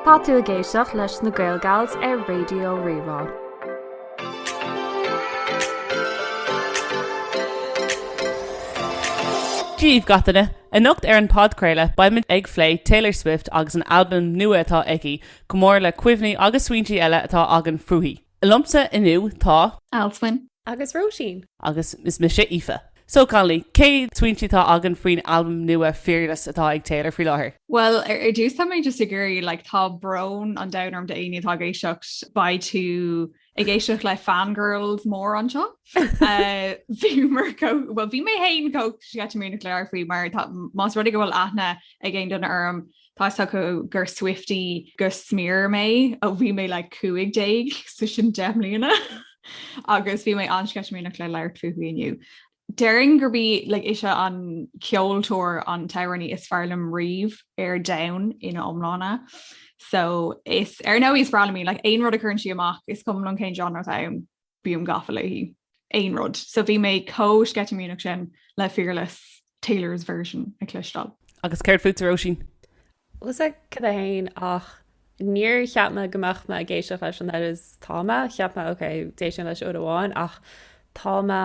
Tá tú ag éisteacht leis na GaelGals ar Raidió Rí-Rá. Dia dhaoibh gach duine, anocht ar an podchraoladh beimid ag phlé Taylor Swift agus an albam nua atá aici, chomh maith le cuimhní agus smaointí eile atá againn fúithi. Liomsa inniu tá. Alswyn. Agus Róisín. Agus is mise Aoife. So cailíní, cé smaointe atá againn faoin albam nua Fearless atá ag Taylor faoi láthair? Bhuel, ar dtús tá mé just ag iarraidh, like, tá brón an domhain orm d'éinne atá ag éisteacht, beidh tú ag éisteacht le fangirls mór anseo. Bhíomar chomh, bhuel, bhí mé fhéin chomh sceitimíneach le labhairt faoi mar tá, más rud é go bhfuil aithne ag aon duine orm, Tá 'fhios acu gur Swiftie go smior mé ó bhí mé like cúig déag so sin deich mbliana agus bhí mé an-sceitimíneach le labhairt fúithi inniu. Déarfainn gurb í like ise an ceoltóir an t-amhránaí is fearr liom riamh ar domhan ina iomláine. So is ar ndóigh is breá liom í, like aon rud a chuireann sí amach, is cuma liom cén genre atá ann. bím gafa léi. aon rud. So bhí mé chomh sceitimíneach sin le Fearless, Taylor's Version a chloisteáil. Agus céard fútsa Róisín? 'Fhios agat fhéin ach níor cheap mé go mbeadh mé ag éisteacht leis an oiread is atá mé, cheap mé ok d'éist mé leis uair amháin ach tá mé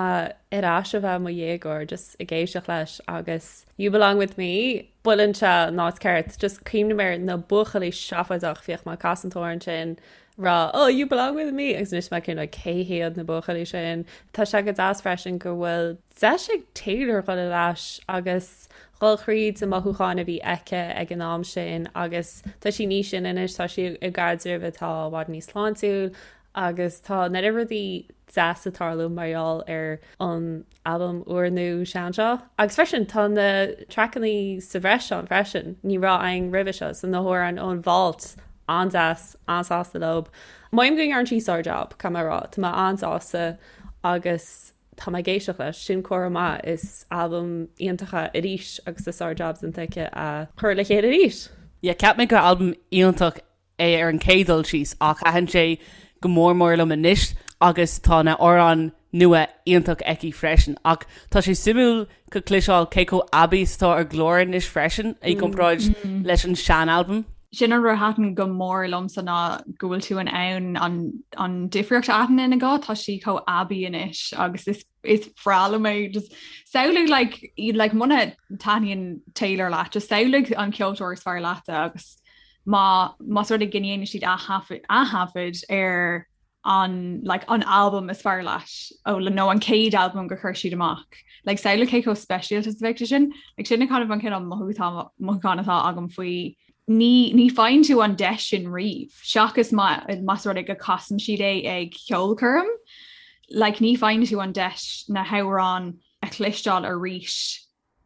ar ais a bheith i mo dhéagóir just ag éisteacht leis agus You Belong With Me buail anseo ná is ceart, just cuimhním ar na buachaillí seafóideach, bhíodh mé ag casadh an t-amhrán sin ag rá oh you belong with me agus anois tá mé ag cuimhneamh cé hiad na buachaillí sin. Tá sé go deas freisin go bhfuil deis ag Taylor dhul ar ais agus dhul thríd na mothúcháin a bhí aici ag an am sin agus tá sí níos sine anois, tá sí i gcaidreamh atá i bhfad níos sláintiúil Agus tá an oiread rudaí deasa ag tarlú mar gheall ar an albam úr nó sean seo. Agus freisin, tá na traiceanna sa bhreis ann freisin, ní raibh againn roimhe seo, so na hamhráin ón vault, an-deas, an-sásta leob. Maím go ndearn sí sár-jab, caithfidh mé a rá, tá mé an-sásta agus tá mé ag éisteacht leis, sin comhartha maith, is albam iontach é arís agus tá sár-jab déanta aici a chur le chéile arís. Yeah, cheap mé gurbh albam iontach é ar an chéad dul síos ach thaitin sé go mór mór liom anois agus tá na amhráin nua iontach aici freisin. Ach tá sé suimiúil ag cloisteáil cé chomh aibí is atá a glór anois freisin i gcomparáid leis an sean-albam. Sin an rud a thaitin go mór liomsa ná go bhfuil tú in ann an difríocht a aithint ina guth, tá sí chomh aibí anois agus is is breá liom é just samhlaigh like muna taithníonn Taylor leat just samhlaigh an ceoltóir is fearr leat agus má más rud a ndéanann siad athaifead ar an like an album is fearr leat ó le nó an céad album go chuir siad amach like samhlaigh cé chomh speisialta is a bheidh sé sin like sin é just an cineál mothúchán atá agam faoi Ní, ní faigheann tú an deis sin riamh, seachas má, más rud é go casann siad é ag ceolchoirm. Like, ní faigheann tú an deis na hamhráin a chloisteáil arís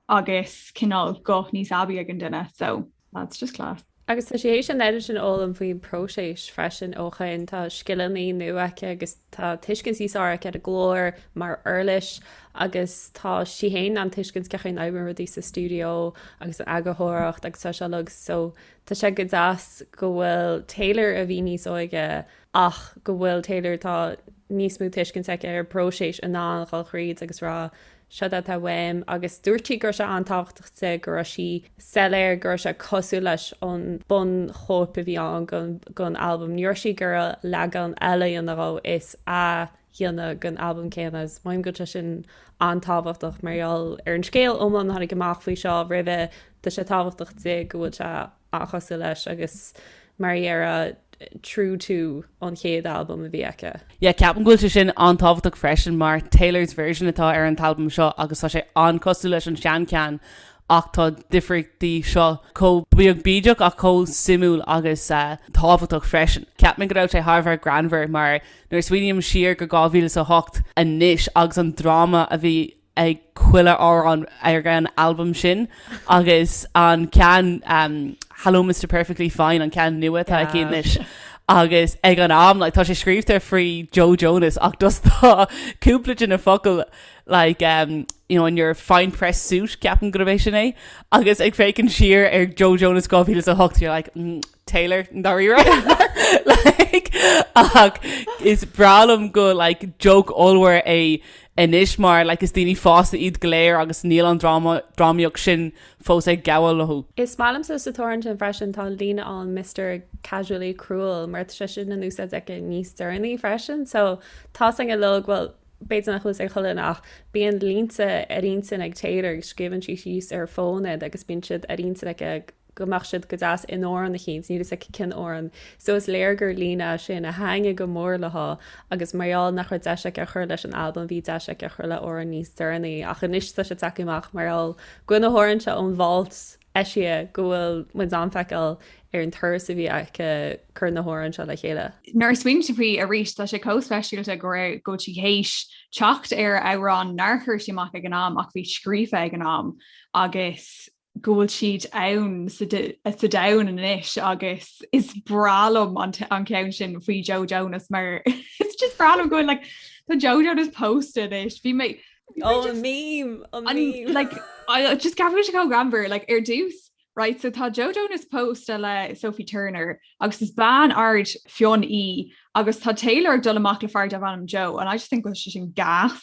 agus cineál guth níos aibí ag an duine. So, that's just class. Agus tá sí th'éis an oiread sin a fhoghlaim faoin próiseas freisin ó shoin, tá scileanna nua aici agus Tá tuiscint níos fearr aici ar a glór mar uirlis agus tá sí in ann tuiscint cén chaoi a n-oibríonn rudaí sa stiúideo agus an eagarthóireacht agus tá sí like so tá sé go deas go bhfuil Taylor a bhí níos óige ach go bhfuil Taylor tá níos mó tuiscint aici ar próiseas in ann a dhul thríd agus rá Seo é atá uaim. Agus dúirt sí go raibh sé an-tábhachtach di, go raibh sí soiléir go raibh sé cosúil leis an bunchóip a bhí ann den albam. Ní raibh sí ag iarraidh leagan eile a dhéanamh, you know, is a dhéanamh den albam céanna. Measaim go bhfuil sé sin an-tábhachtach mar gheall ar an scéal iomlán a tháinig amach faoi seo roimhe. Tá sé tábhachtach di go bhfuil sé. an-chosúil leis agus mar a déarfá true to an chéad albam a bhí aici. Yeah, ceapaim go bhfuil sé sin an-tábhachtach freisin mar Taylor's Version atá ar an t-albam seo agus tá sé an-cosúil leis an seancheann ach tá difríochtaí seo chomh beag bídeach ach chomh suimiúil agus tábhachtach freisin. Ceapaim go raibh sé thar a bheith greannmhar mar nuair a smaoiním siar go 2008 anois agus an dráma a bhí ag chuile amhrán ar an albam sin agus an ceann Hello Mister Perfectly Fine, an ceann nua atá aici anois, agus ag an am like tá sé scríobhta faoi Joe Jonas ach just tá cúpla de na focail like you know in your fine pressed suit ceapaim gurb é sin é agus ag féachaint siar ar Joe Jonas 2008 you're like mm. Taylor ndáiríre like ach is breá liom go like joke ollmhór é anois mar like is daoine fásta iad go léir agus níl an dráma drámaíocht sin fós ag gabháil leo. Is maith liomsa san amhrán sin freisin tá an líne ann Mister casually cruel mar tá sé sin in úsáid aici níos deireanaí freisin so tá sé go like bhuel b'fhéidir nach bhfuil sé chomh cool ach bíonn línte ar intinn ag Taylor agus scríobhann sí síos ar a fón iad agus bíonn siad ar intinn aici ag go mbeadh siad go deas in amhrán eicínt, níl fhios aici cén amhrán, so is léir gur líne é sin a thaitnigh go mór léi agus mar gheall nach raibh deis aici a chur leis an albam bhí deis aici a chur le amhrán níos deireanaí ach anois tá sé tagtha amach mar gheall go na hamhráin seo ón vault eisithe go bhfuil muid in ann feiceáil ar an turas a bhí aici cur na hamhráin seo le chéile. Nuair a smaoinímse faoi arís tá sé chomh speisialta go raibh sí théis teacht ar amhrán nár chuir sí amach ag an am ach bhí scríofa ag an am agus go bhfuil siad ann sa domhan anois agus is breá liom an ceann sin faoi Joe Jonas mar it's just breá liom go bhfuil like tá Joe Jonas pósta anois bhí mé Oh, just, meme, a meme. like I just tá sé chomh greannmhar like ar dtús right so tá Joe Jonas pósta le Sophie Turner agus is bean ard fionn í agus tá Taylor ag dul amach le fear darb ainm Joe and I just think go bhfuil sé sin gas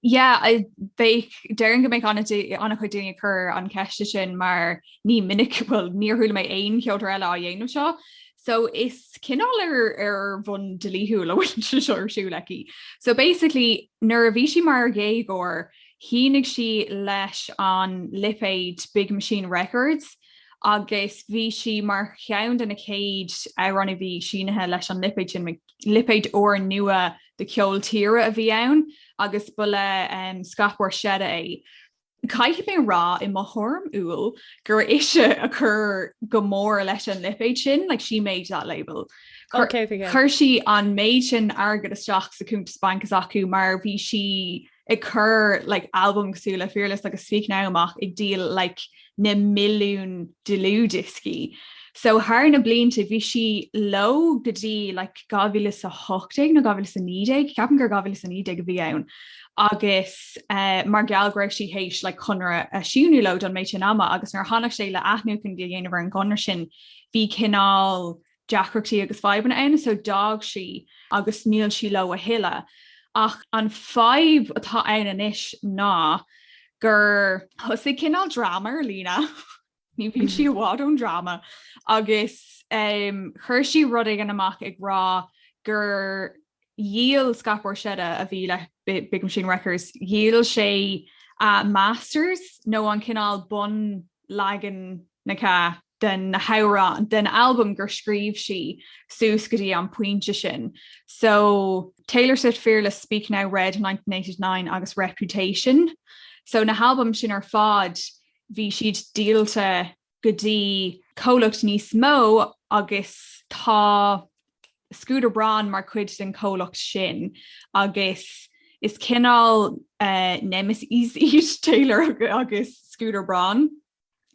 Yeah, déarfainn go mbeidh an-chuid daoine ag cur an cheiste sin mar ní minic, bhuel, níor chuala mé aon cheoltóir eile á dhéanamh seo. So is cineál ar bhonn dlíthiúil a bhfuil sé seo ar siúl aici. So basically, nuair a bhí sí mar dhéagóir, shínigh sí leis an lipéad Big Machine Records agus bhí sí mar cheann de na chéad amhráin a bhí sínithe leis an lipéad sin, lipéad úr nua de cheol tíre a bhí ann agus ba le Scott Borchetta é. Caithfidh mé a rá, i mo thuairim umhal, gur ise a chuir go mór leis an lipéad sin, like, she made that label. Chuir sí an méid sin airgid isteach sa chuntas bainc s'acu mar bhí sí. ag cur like albam cosúil le Fearless agus Speak Now amach ag díol like na milliún dlúthdhioscaí. So thar na blianta bhí sí leo go dtí like 2018 nó 2019, ceapaim gur 2019 a bhí ann, agus eh mar gheall go raibh sí théis like conradh a shíniú leo don méid sin ama agus nuair a tháinig sé le athnuachan a dhéanamh ar an gconradh sin bhí cineál deacrachtaí agus fadhbanna ann so d'fhág sí agus níl sí leo a thuilleadh ach an fadhb atá ann anois ná gur thosaigh cineál dráma ar líne, ní bhíonn sí i bhfad ón dráma, agus chuir sí rud éigin amach ag rá gur dhíol Scott Borchetta, a bhí le Big Machine Records, dhíol sé a masters nó an cineál bun-leagan na. de na hamhráin den albam gur scríobh sí suas go dtí an pointe sin so Taylor Swift Fearless, Speak Now, Red 1989 agus Reputation so na halbaim sin ar fad bhí siad díolta go dtí comhlacht níos mó agus tá Scooter Braun mar chuid den chomhlacht sin agus is cineál nemesis iad Taylor agus Scooter Braun.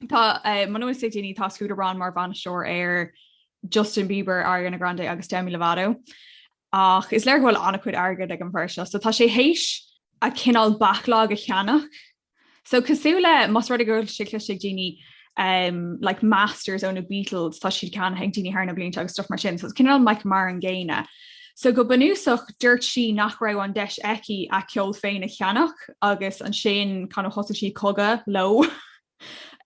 Tá muna bhfuil 'fhios ag daoine tá Scooter Braun mar bhainisteoir ar Justin Bieber, Ariana Grande agus Demi Lovato. Ach is léir go bhfuil an-chuid airgid ag an bhfear seo, so tá sé théis a cineál backlog a cheannach. So cosúil le más rud é go bhfuil sé cloiste ag daoine um, like masters ó na Beatles tá siad ceannaithe ag daoine thar na blianta agus stuff mar sin, so cineál like mar an gcéanna. So go bunúsach dúirt sí nach raibh an deis aici a ceol féin a cheannach agus ansin kind of thosaigh sí cogadh leo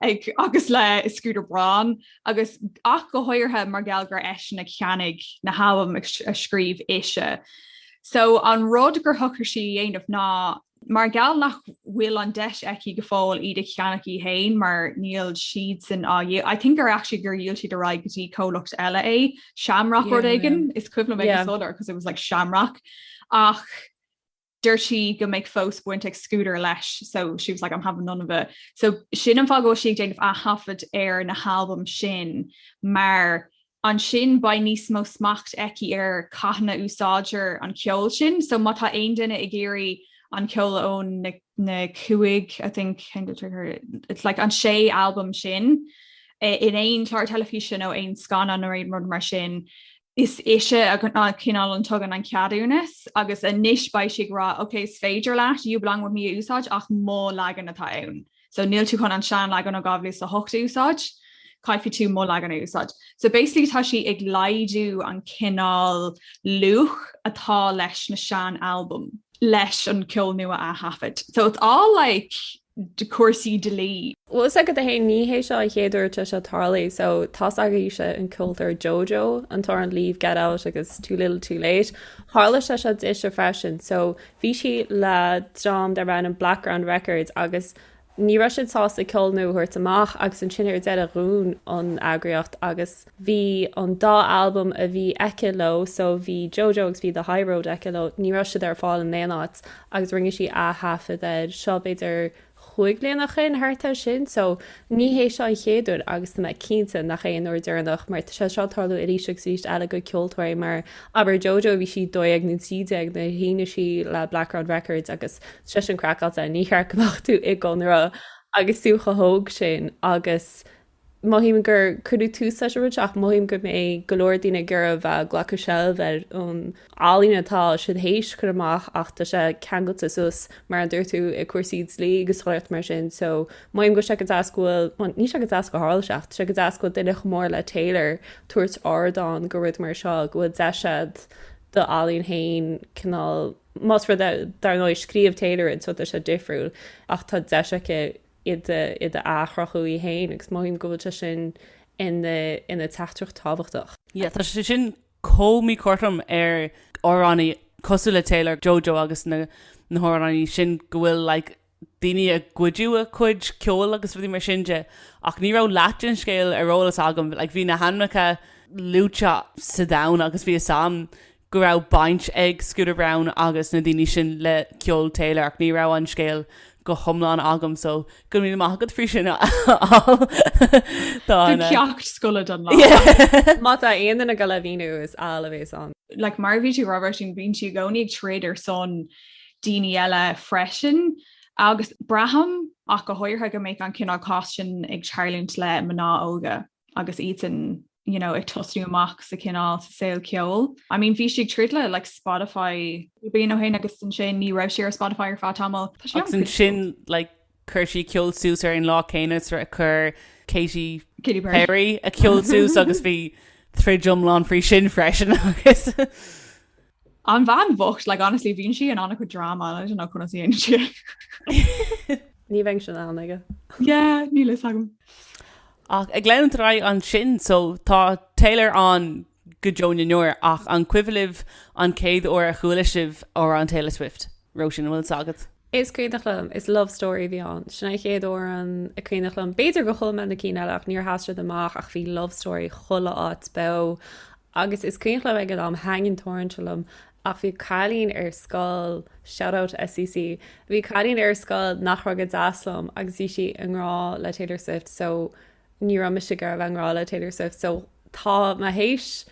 ag agus le Scooter Braun agus ach go háirithe mar gheall gur eisean a cheannaigh na halbaim a scríobh ise. So an rud gur shocraigh sí a dhéanamh ná Mar gheall nach bhfuil an deis aici go fóill iad a cheannach í fhéin mar níl siadsan ah, I think gur actually gur dhíol siad ar aghaidh go dtí comhlacht eile é, Shamrock rud Yeah, éigin, is cuimhin liom é, yeah, solely because it was like Shamrock ach dúirt sí go mbeadh fós baint ag Scooter leis so she was like I'm having none of it. So sin an fáth go bhfuil sí ag déanamh ath-thaifead ar na halbaim sin mar ansin beidh níos mó smacht aici ar cathain a úsáidtear an ceol sin so má tá aon duine ag iarraidh an ceol ó na cúig I think it's like an sé albam sin in aon chlár teilifíse nó aon scannán nó aon rud mar sin is ise a cineál an tugann an ceadúnas agus anois beidh sí ag rá ok is féidir leat You Belong With Me a úsáid ach mo leagan atá ann. So níl tú chun an sean leagan ó 2008 a úsáid, caithfidh tú mo leagan a úsáid. So basically tá sí ag laghdú an cineál luach atá leis na sean albaim. leis an ceol nua a thaifead. So it's all like cúrsaí dlí. Bhfuil 'fhios agat, a Shéain, ní hé seo an chéad uair atá seo tarlaithe, so tá's agaibhse an ceoltóir Jojo, an t-amhrán Leave, Get Out agus Too Little Too Late, tharla sé seo dise freisin, so Bhí sí le dream darb ainm Blackground Records agus ní raibh siad sásta ceol nua a thabhairt amach agus ansin ar deireadh dhún an eagraíocht agus bhí an dá albam a bhí aici leo, so bhí JoJo agus bhí The High Road aici leo, ní raibh siad ar fáil in aon áit agus rinne sí ath-thaifead air, seo b'fhéidir cúig bliana ó shin thart ansin so ní hé seo an chéad uair agus tá mé cinnte nach é an uair deireanach mar tá sé seo ag tarlú arís agus arís eile go ceoltóirí mar abair Jojo, bhí sí 12 nó 13 nuair a shínigh sí le Blackground Records agus tá sé sin craiceáilte, ní cheart go mbeadh tú i gconradh agus tú chomh hóg sin agus Mothaím gur cuireadh tús leis an rud seo ach mothaím go mbeidh go leor daoine ag iarraidh bheith ag glacadh seilbh ar an ealaín atá siad théis chur amach ach tá sé ceangailte suas mar a dúirt tú i cúrsaí dlí agus chuile shórt mar sin so mothaím go bhfuil sé go deas go bhfuil, bhuel níl sé go deas gur tharla sé ach tá sé go deas go bhfuil duine chomh mór le Taylor tabhairt ardán go rud mar seo go bhfuil deis a'd do ealaín féin cineál más rud é dar ndóigh scríobh Taylor rud so tá sé difriúil ach tá deis aici í a athchruthú í fhéin agus mothaím go bhfuil sé sin ina teachtaireacht tábhachtach. Yeah tá sé sin chomh míchothrom ar amhránaí cosúil le Taylor, Jojo agus na na hamhránaí sin go bhfuil like daoine a gcuidiú a cuid ceoil agus rudaí mar sin de ach ní raibh leath den scéal ar eolas agam like bhí na hainmeacha luaite sa domhan agus bhí a fhios agam go raibh baint ag Scooter Braun agus na daoine sin le ceol Taylor ach ní raibh an scéal go hiomlán agam so go raibh míle maith agat faoi sin a Áil tá ceacht scoile don lá! Yeah! Má tá aon duine ag goil le míniú is Áil a bhéas ann. Like mar a bhí tú ag rá Róisín, bíonn sí i gcónaí ag troid ar son daoine eile freisin agus braithim, ach go háirithe, go mbeadh an cineál cás sin ag tarlúint le mná óga. agus iadsan you know ag tosnú amach sa cineál sa saol ceoil. I mean bhí sí ag troid le like Spotify bliain ó shin agus ansin ní raibh sí ar Spotify ar feadh tamaill. Tá sí agus ansin like chuir sí ceol suas ar an lá céanna agus a chuir Katy Katy Perry. Perry a ceol suas agus bhí troid iomlán faoi sin freisin agus. An bhean bhocht, like honestly bhíonn sí in an-chuid drama and I don't know conas a dhéanann sí é. Ní bhíonn síocháin aici? Yeah, níl fhios agam. Ach ag leanúint ar aghaidh ansin, so tá Taylor ann go deo na ndeor ach an cuimhin libh an chéad uair a chuala sibh amhrán Taylor Swift? Róisín, an bhfuil fhios agat? Is cuimhneach liom, is love story a bhí ann. Sin an chéad amhrán is cuimhneach liom, b'fhéidir gur chuala mé na cinn eile ach níor sheas siad amach ach bhí love story chuile áit beo agus is cuimhneach liom ag an am, tagann tuairimí liom ach bhí cailín ar scoil, shout out SCC, bhí cailín ar scoil nach raibh go deas liom agus bhí sí i ngrá le Taylor Swift so ní raibh mise ag iarraidh a bheith i ngrá le Taylor Swift so tá mé théis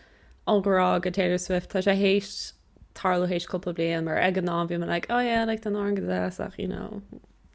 an grá do Taylor Swift, tá sé théis. tarlú théis cúpla bliain mar ag an am bhí mé like oh yeah like the Norn Gazette ach you know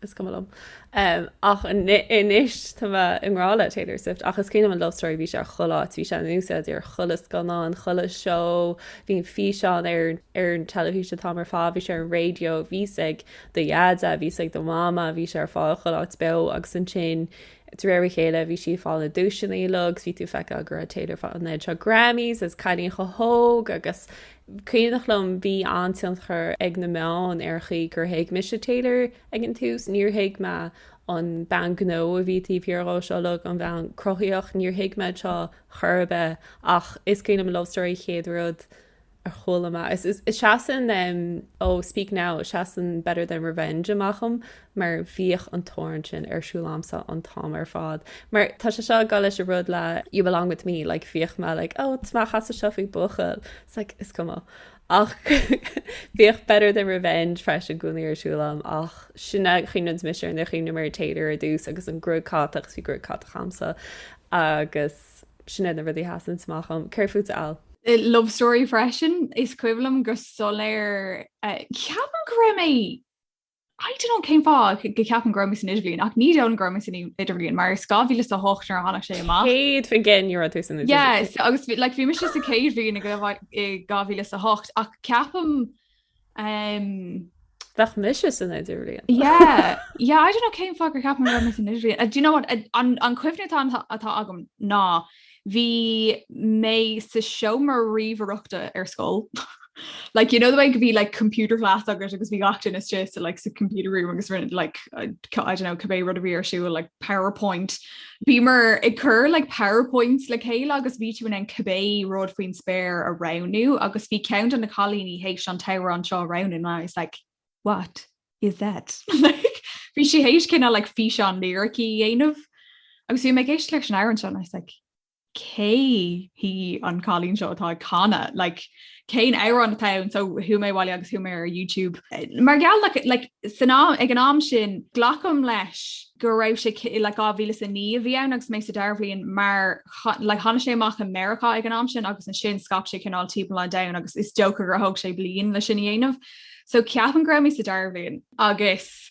is cuma liom um, ach anois tá mé i ngrá le Taylor Swift ach is cuimhin liom love story bhí sé ar chuile áit bhí sé in úsáid ar chuile scannán chuile seó bhí an físeán ar ar an teilifís an t-am ar fad bhí sé ar an radio bhí sé ag do dheaide bhí sé ag do mama bhí sé ar fáil chuile áit beo agus an sin De réir a chéile bhí sí ag fáil na duaiseanna uilig agus bhí tú ag feiceáil go raibh Taylor ag fáil an oiread seo Grammys agus cailín chomh hóg agus is cuimhneach liom bhí an-tionchar ag na meáin ar an gcaoi gur thuig mise Taylor ag an tús, níor thuig mé an bhean gnó a bhí taobh thiar dhe seo uilig, an bhean chruthaíoch, níor thuig mé seo chor ar bith ach is cuimhin liom Love Story chéad rud. a chuala mé. Is seasann Oh, Speak Now, seasann Better Than Revenge amach a'm mar bhíodh an t-amhrán sin ar siúl a'msa an t-am ar fad. Mar tá sé seo ag gabháil leis an rud le You Belong With Me, like bhíodh mé like má chasadh seo faoi bhuachaill. It's like, is cuma. Ach bhíodh Better Than Revenge freisin i gcónaí ar siúl a'm ach sin an chaoi a gcuimhníonns mise ar na, chuimhním ar Taylor ar dtús agus an ghruaig chatach, 's bhí gruaig chatach a'msa agus. Sin iad na rudaí a sheasann amach a'm. Céard fút Áill? Love story freisin. Is cuimhin liom go soiléir, ceapaim go raibh mé, I don't know cén fáth go gceapaim go raibh mé san idirbhliain ach ní dóigh liom go raibh mé san idirbhliain mar is 2008 a bhí ann nuair a tháinig sé amach. Cén bhliain again a raibh tú san idirbhliain. Yeah so agus like bhí mise sa céad bhliain i 2008 ach ceapaim Um, Bheadh mise san idirbhliain. yeah, yeah, I don't know cén fáth gur cheap mé go raibh mé san idirbhliain. Uh, do you know what, uh, an, an cuimhne atá, atá agam ná bhí mé sa seomra ríomhaireachta ar scoil. like, you know the way go mbíodh like computer class agat agus bhí gach duine sa like sa computer room agus like, I, I don't know, cibé rud a bhí ar siúl like PowerPoint Bhíomar ag cur like powerpoints le chéile agus bhí tú in ann cibé rud faoin spéir a roghnú agus bhí ceann de na cailíní théis an t-amhrán seo a roghnú and I was like what is that? Like bhí sí théis cineál like físeán liricí a dhéanamh agus bhí mé ag éisteacht leis an amhrán seo and I was like cé hí an cailín seo atá ag canadh, like cén amhrán atá ann, so chuaigh mé abhaile agus chuaigh mé ar YouTube. Mar gheall ar like, like san am, ag an am sin, glacaim leis go raibh sé ci, like 2009 a bhí ann agus mé sa dara bhliain mar cha, like tháinig sé amach i Meiriceá ag an am sin agus ansin scaip sé cineál timpeall an domhain agus is dócha gur thóg sé bliain leis sin a dhéanamh. So ceapaim go raibh mé sa dara bhliain agus.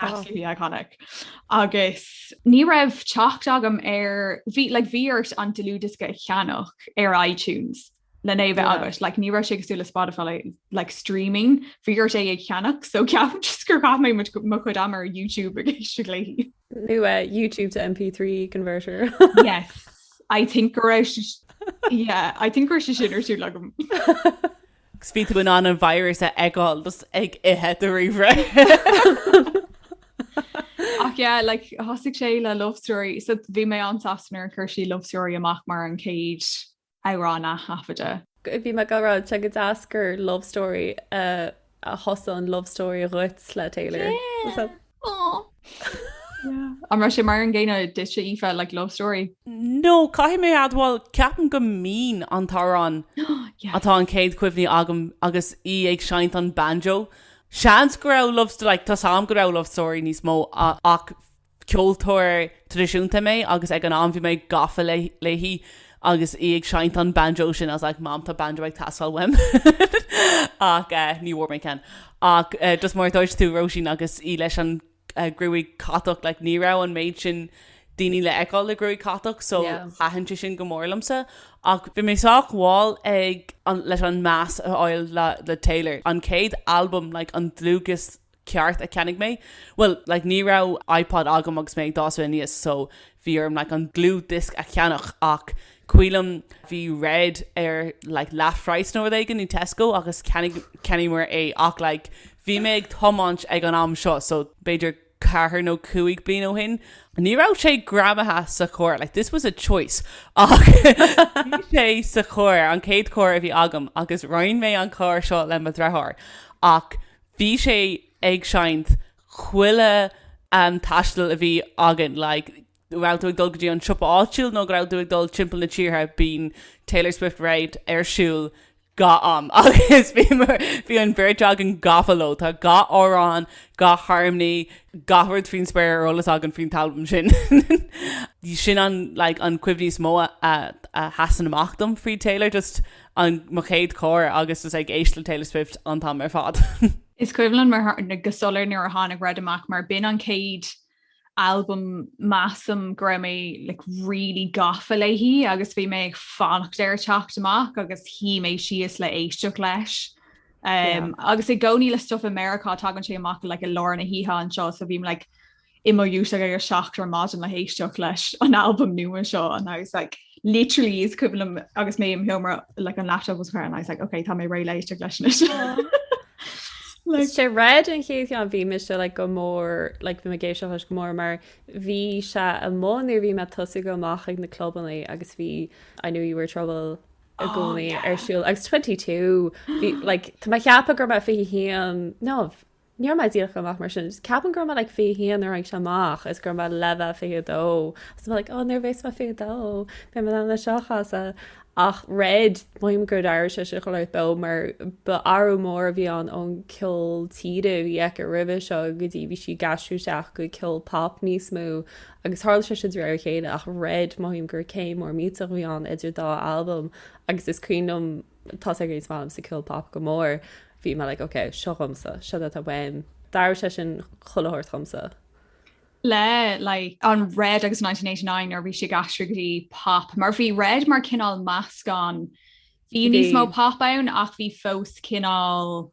Absolutely iconic. Agus ní raibh teacht agam ar, bhí, like, bhí ort an dlúthdhiosca a cheannach ar iTunes lena bheith Yeah. agat, like, ní raibh sé cosúil le Spotify, like, streaming, bhí ort é a cheannach, so ceapaim just gur chaith mé muid- mo chuid ama ar YouTube ag éisteacht léi. Nó eh, YouTube to MP3 converter. Yes, I think go raibh si- yeah, I think go raibh sé sin ar siúl agam. 'Gus bhí tú in ann an virus a fheiceáil just ag ithe do ríomhaire. Ach yeah, like, thosaigh sé le love story, so bhí mé an-sásta nuair a chuir sí love story amach mar an chéad amhrán a athaifeadadh. Go- Bhí mé ag gabháil a rá tá go deas gur love story a a thosaigh an love story dhuit le Taylor. Yeah! An raibh sé mar an gcéanna duit, a Aoife, like love story? No, caithfidh mé admháil, ceapaim gurb é Mean an t-amhrán atá an chéad chuimhne agam agus í ag seinnt an banjo. Seans go raibh love story, like tá a fhios agam go raibh love story níos mó ach ceoltóir traidisiúnta mé agus ag an am bhí mé gafa léi agus í ag seinnt an banjo sin, I was like mam tá banjo ag teastáil uaim ach eh ní bhfuair mé ceann ach eh just mar a dúirt tú Róisín agus í leis an eh gruaig catach like ní raibh an méid sin daoine le fheiceáil le gruaig catach so Yeah. thaitin sé sin go mór liomsa ach bhí mé sách mhall ag an leis an meas a fháil le le Taylor an chéad albam like an dlúthdhiosc ceart a cheannaigh mé. Bhuel, like, ní raibh iPod agam agus mé ag fás aníos so bhí orm, like, an dlúthdhiosc a cheannach ach cuimhin liom bhí Red ar, like, leathphraghas nó rud éigin i Tesco agus cheannaíomar é ach, like, bhí mé ag tiomáint ag an am seo so b'fhéidir ceathair nó cúig bliana ó shin, ní raibh sé greamaithe sa charr, like, this was a choice ach bhí sé sa charr, an chéad charr a bhí agam agus roinn mé an carr seo le mo dhriotháir ach bhí sé ag seinnt chuile taisteal a bhí againn, like, go raibh tú ag dul go dtí an siopa áitiúil nó go raibh tú ag dul timpeall na tíortha, bíonn Taylor Swift Red ar siúl gach am agus bhí an bheirt againn gafa leo, tá gach amhrán, gach harmony, gach rud faoin spéir ar eolas againn faoin t-albam sin. Sin an, like, an chuimhne is mó a sheasann amach dom faoi Taylor, just an, mo chéad charr agus is ag éist le Taylor Swift an t-am ar fad. Is cuimhin liom mar tharla go soiléir nuair a tháinig Red amach mar b'in an chéad albam measaim go raibh mé like really gafa léi agus bhí mé ag fanacht ar a teacht amach agus shuigh mé síos le éisteacht leis. Um, yeah. agus i gcónaí le stuff i Meiriceá tagann sé amach like i lár na hoíche anseo so bhím like i mo dhúiseacht ag a seacht ar maidin le héisteacht leis an albam nua seo and I was like literally is cuimhin liom agus mé im sheomra like an laptop was there and I was like ok tá mé réidh le éisteacht leis anois. Like, sé Red an chéad cheann bhí mé isteach leis go mór like bhí mé ag éisteacht leis go mór mar bhí sé amuigh nuair a bhí mé ag tosaí dul amach ag na clubannaí agus bhí I knew you were trouble i gcónaí ar siúl agus 22 bhí like tá mé ag ceapadh go raibh mé fiche haon nó Ní raibh mé díreach amach mar sin. Ceapaim go raibh mé like 21 nuair a tháinig sé amach is go raibh mé le bheith 22. Is mé like oh nuair a bheas mé 22 beidh mé in ann é seo a chasadh. Ach Red, mothaím gur d'athraigh sé sin chuile shórt dom mar ba athrú mór a bhí ann ón ceol tíre a bhí aici roimhe seo go dtí bhí sí ag aistriú isteach go ceol pop níos mó agus tharla sé sin de réir a chéile ach Red, mothaím gur céim mór millteach a bhí ann idir dá albam agus is cuimhin liom toisc gur is maith liomsa ceol pop go mór, bhí mé like ok, seo dhomsa, seo é atá uaim. D'athraigh sé sin chuile shórt dhomsa. le like an Red agus 1989 nuair a bhí sí ag aistriú go dtí Pop mar bhí Red mar cineál meascán, bhí níos mó Pop ann ach bhí fós cineál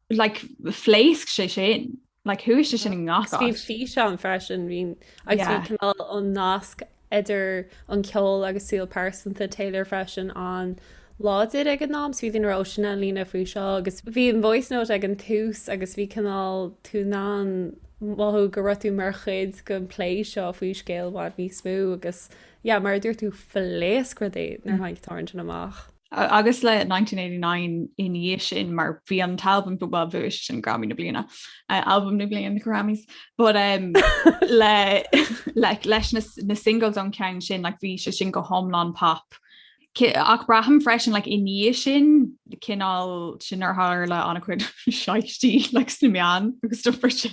like phléasc sé sin like chuaigh sé sin i ngach físeán freisin bhí agus bhí cineál an nasc idir an ceol agus saol pearsanta Taylor freisin an-láidir ag an am so bhí na rudaí ar líne faoi seo agus bhí an voice note ag an tús agus bhí cineál tú in ann mothú go raibh tú mar chuid den plé seo faoi scéal bhain níos mó agus yeah mar a dúirt tú phléasc rudaí nuair a tháinig an t-amhrán amach. Agus le 1989 ina dhiaidh sin, mar bhí an t-albam, bhuel, bhí sé sin Grammy na Bliana, Albam na Bliana na Grammys, but le leis na singles ón gceann sin, like bhí sé sin go hiomlán pop. Ach braithim freisin, like i ndiaidh sin, cineál sin nuair a tharla an-chuid ceisteanna, like sna meáin agus stuff mar sin.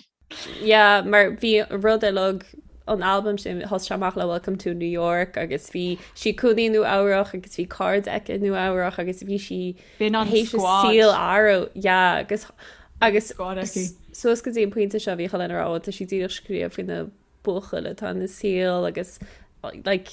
Yeah, mar bhí rud uilig an albaim sin, thosaigh sé amach le Welcome to New York agus bhí sí ina cónaí i Nua Eabhrach agus bhí cairde aici i Nua Eabhrach agus bhí sí tar éis a saol a athrú. Yeah agus agus squad aici. suas go dtí an pointe seo bhí cineál á rá, tá sí díreach scríobh faoi na buachaillí atá ina saol agus like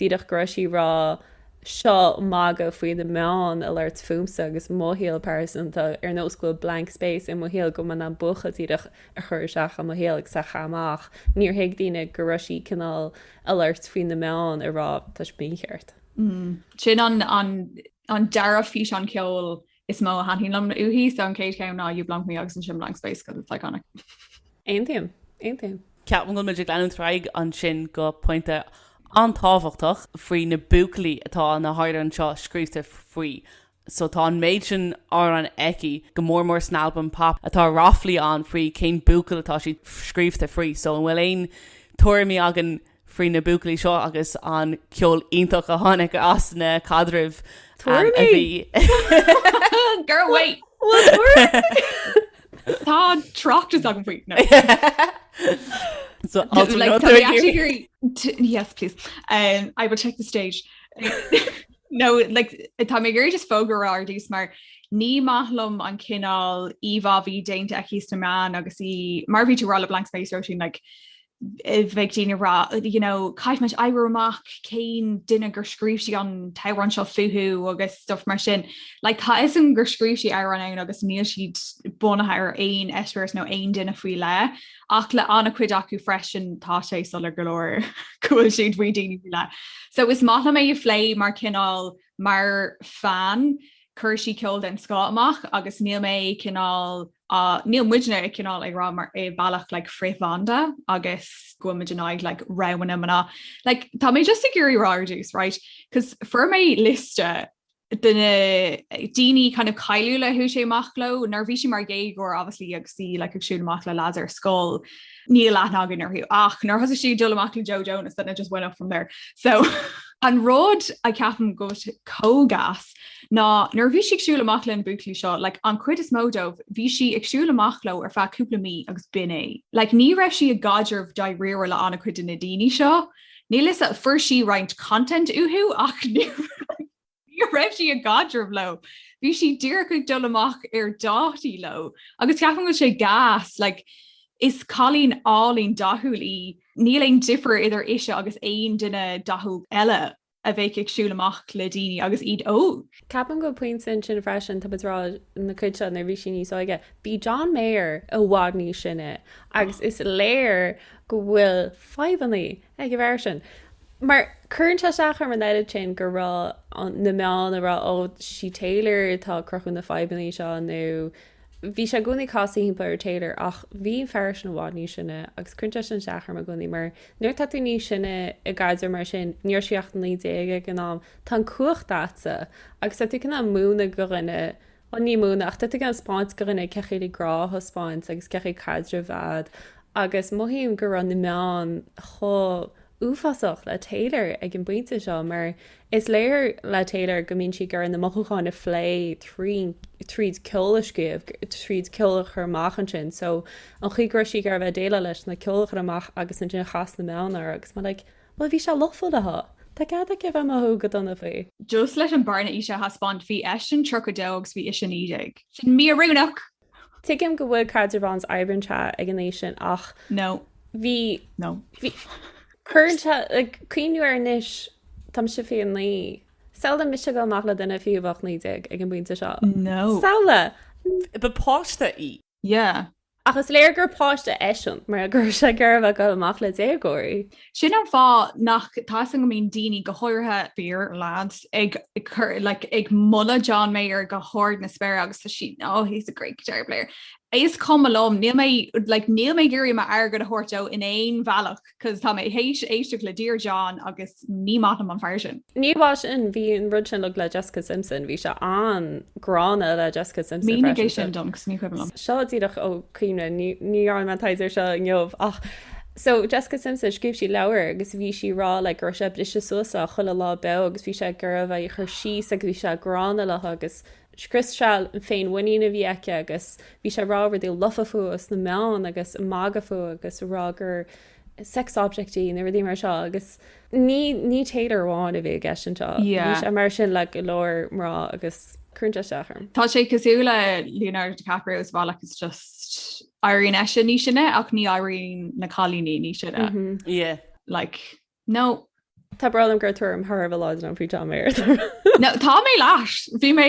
díreach go raibh sí rá seo magadh faoi na meáin a labhairt fúmsa agus mo shaol pearsanta, ar nós go bhfuil blank space i mo shaol go mbím in ann buachaill díreach a chur isteach i mo shaol agus a chaitheamh amach. Níor thuig daoine go raibh sí cineál a labhairt faoi na meáin a rá tá sibh mícheart. Sin an an an dara físeán ceoil is mó a thaitníonn liom uaithi so an chéad cheann ná You Belong With Me agus ansin Blank Space 'cause it's iconic. Aontaím, aontaím. Ceapaim go bhfuil muid ag leanúint ar aghaidh ansin go pointe an-tábhachtach faoi na buachaillí atá na hamhráin seo scríte faoi so tá an méid sin amhrán aici, go mór mór san albam Pop atá ráflaí ann faoi cén buachaill atá siad scríte faoi so an bhfuil aon tuairimí againn faoi na buachaillí seo agus an ceol iontach a tháinig as na caidrimh a bhí. Girl, wait! Bhfuil tuairimí? Tá tráchtas agam faoi. So alter no they're here. Yes please. Um I will take the stage. No like tá mé ag iarraidh just fógra a rá ar dtús mar ní maith liom an cineál íomhá a bhí déanta di sna meáin agus í mar bhí tú rá le blank space Róisín like bheadh daoine ag rá you know caithfidh muid oibriú amach cén duine gur scríobh sí an t-amhrán seo fúthu agus stuff mar sin. Like tá 'fhios agam gur scríobh sí amhráin agus níl siad bunaithe ar aon eispéireas nó aon duine faoi leith ach le an-chuid acu freisin tá sé soiléir go leor go bhfuil siad faoi daoine faoi leith. So is maith liom é a phlé mar cineál mar fan, chuir sí ceol den scoth amach agus níl mé cineál, Ach níl muidne ag cineál ag rá mar i mbealach like frithbhanda agus go bhfuil muid in aghaidh like roghanna mná. Like tá mé just ag iarraidh rá ar dtús right? Cos fuair mé liosta de na daoine kind of cáiliúla a chuaigh sí amach leo nuair a bhí sí mar dhéagóir obviously agus í like ag siúl amach le lads ar scoil níl aithne againn orthu ach nuair a thosaigh sí ag dul amach le Joe Jonas then it just went up from there. So an rud a cheapaim go bhfuil sé chomh gas ná nuair a bhí sí ag siúl amach lena buachaillí seo, like, an chuid is mó dóibh, bhí sí ag siúl amach leo ar feadh cúpla mí agus b'in é. Like, ní raibh sí i gcaidreamh dáiríre le an-chuid de na daoine seo. Níl 'fhios a'm, fuair sí roinnt content uathu ach ní raibh sí i gcaidreamh leo. Bhí sí díreach ag dul amach ar dhátaí leo agus ceapaim go bhfuil sé gas, like, is cailín álainn dathúil í, níl aon difear idir ise agus aon duine dathúil eile. a bheadh ag siúl amach le daoine agus iad óg. Ceapaim go pointe ansin freisin, tá muid ag rá an chuid seo nuair a bhí sí níos óige, bhí John Mayer i bhfad níos sine agus is léir go bhfuil fadhbanna ag an bhfear sin. Mar cuireann sé isteach orm an oiread sin go raibh na meáin ag rá, oh, sí Taylor atá ag cruthú na fadhbanna seo nó. Bhí sé i gcónaí casadh thimpeall ar Taylor ach bhí an fear sin i bhfad níos sine agus cuireann sé sin isteach orm i gcónaí mar nuair atá tú níos sine i gcaidreamh mar sin, ní raibh sí ach 19 ag an am, tá an cumhacht a'dsa agus tá tú cineál ag múineadh go dhuine, bhuel ní múineadh ach tá tú cineál ag 'speáint go dhuine cé chaoi le grá a thaispeáint agus cé chaoi caidreamh a bheith a'd agus mothaím go raibh na meáin chomh uafásach le Taylor ag an bpointe seo mar Is léir le Taylor go mbíonn sí ag iarraidh na mothúcháin a phlé tríd ceol a scríobh, tríd ceol a chur amach ansin. So, an chaoi go raibh sí ag iarraidh bheith ag déileáil leis ná ceol a chur amach agus ansin chas na meáin air agus mar like bhuel bhí sé lofa léi though, tá cead aici a bheith mothú go dona faoi. Just leis an bearna aoise a thaispeáint, bhí eisean 32 agus bhí ise 19. Sin míoiriúnach! Tuigim go bhfuil caidreamh ann is oibríonn sé ag an aois sin ach No. bhí No. bhí cuireann sé ag cuimhniú air anois tá mise 29 samhlaigh mise ag gabháil amach le duine fiú a bheadh 19 ag an bpointe seo No. samhlaigh Ba páiste í. Yeah. Ach is léir gur páiste eisean mar go raibh sé ag iarraidh a bheith ag gabháil amach le déagóirí. Sin an fáth nach tá 'fhios a'm go mbíonn daoine, go háirithe fir, lads, ag cur, like, ag moladh John Mayer go hard na spéire agus tá siad, oh, he's a great guitar player. Is cuma liom, níl mé, like, níl mé ag iarraidh m'airgead a thabhairt dó in aon bhealach cos tá mé théis éisteacht le Dear John agus ní maith liom an fear sin. Ní amháin sin, bhí an rud sin le Jessica Simpson, bhí sé an-ghránna le Jessica Simpson freisin. Mínigh é sin dom cos ní cuimhin liom. Seo díreach ó chuimhne, ní dhearna mé an taighde ar seo inniu ach, So, Jessica Simpson, scríobh sí leabhar agus bhí sí ag rá like go raibh sé ag briseadh suas léi chuile lá beo agus bhí sé i gcónaí á cur síos agus bhí sé gránna léi agus scrios sé an féinmhuinín a bhí aici agus bhí sé ag rá rudaí lofa fúthu sna meáin agus ag magadh fúthu agus a rá gur sex object í nó rudaí mar seo agus ní, ní Taylor amháin a bhí i gceist anseo. Bhí sé mar sin le go leor mná agus cuireann sé isteach orm. Tá sé cosúil le Leonardo DiCaprio as well agus just Éiríonn eisean níos sine ach ní éiríonn na cailíní níos sine. Yeah. Like, no. Is breá liom go bhfuil tuairim thar a bheith láidir agam faoi John Mayer. No, tá mé leis. Bhí mé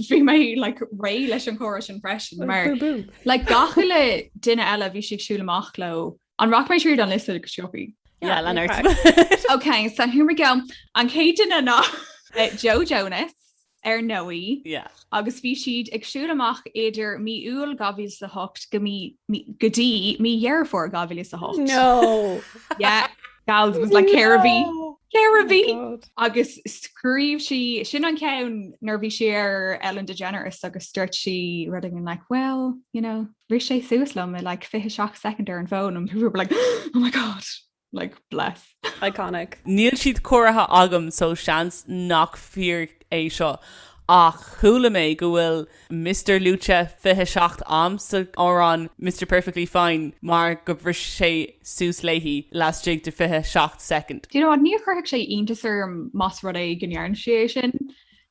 bhí mé like réidh leis an chomhrá sin freisin mar Boom boom. like gach uile duine eile bhí siad ag siúl amach leo. An rachaidh mé tríd an liosta go sciobtha? Yeah, lean ort. Ok, so here we go. An chéad duine ná Joe Jonas, ar ndóigh, agus bhí siad ag siúl amach idir mí Iúil 2008 go mí, mí, go dtí mí Dheireadh Fómhair 2008. No! Yeah, gals, it was like ceithre mhí, ceithre mhí! Agus scríobh sí, sin an ceann nuair a bhí sí ar Ellen DeGeneres agus dúirt sí rud éigin like, well, you know, bhris sé suas liom i like 27 soicind ar an bhfón and we were like, oh my God! Like, bless. Iconic. Níl siad comhairthe agam so seans nach fíor é seo ach chuala mé go bhfuil Mister luaite 27 am sa amhrán Mister Perfectly Fine mar go bhris sé suas léi lastigh de 27 soicind. Do you know what, ní chuirfeadh sé iontas orm más rud é go ndearna sí é sin.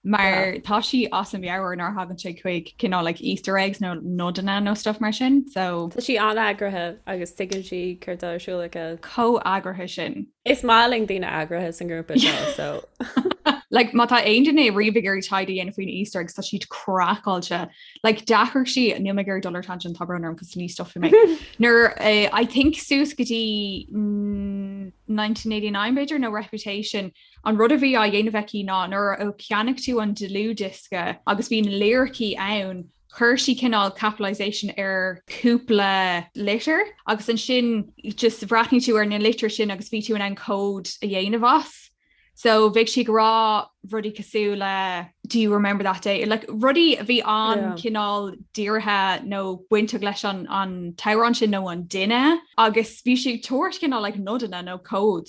Mar tá sí as a meabhair nuair a thagann sé chuig cineál like Easter eggs nó nodanna nó stuff mar sin so. Tá sí an-eagraithe agus tuigeann sí céard atá ar siúl aici. Chomh heagraithe sin. Is maith linn daoine eagraithe sa ngrúpa seo so. Like má tá aon duine riamh ag iarraidh taighde a dhéanamh faoi na Easter eggs tá siad craiceáilte. Like do chuir sí, níl mé ag iarraidh dul ar tangent tá brón orm cos ní stopfaidh mé. Nuair a I think suas go dtí 1989 b'fhéidir nó Reputation, An rud a bhí á dhéanamh aici ná nuair a cheannaigh tú an dlúthdhiosca agus bhí na liricí ann, chuir sí cineál capitalization ar chúpla litir agus ansin just bhreathnaigh tú ar na litreacha sin agus bhí tú in ann cód a dhéanamh as. So bheadh sí ag rá rudaí cosúil le Do you remember that day? Like rudaí a bhí ann Yeah. cineál dírithe nó bainteach leis an an t-amhrán sin nó an duine agus bhí sí ag tabhairt cineál like nodanna nó cód.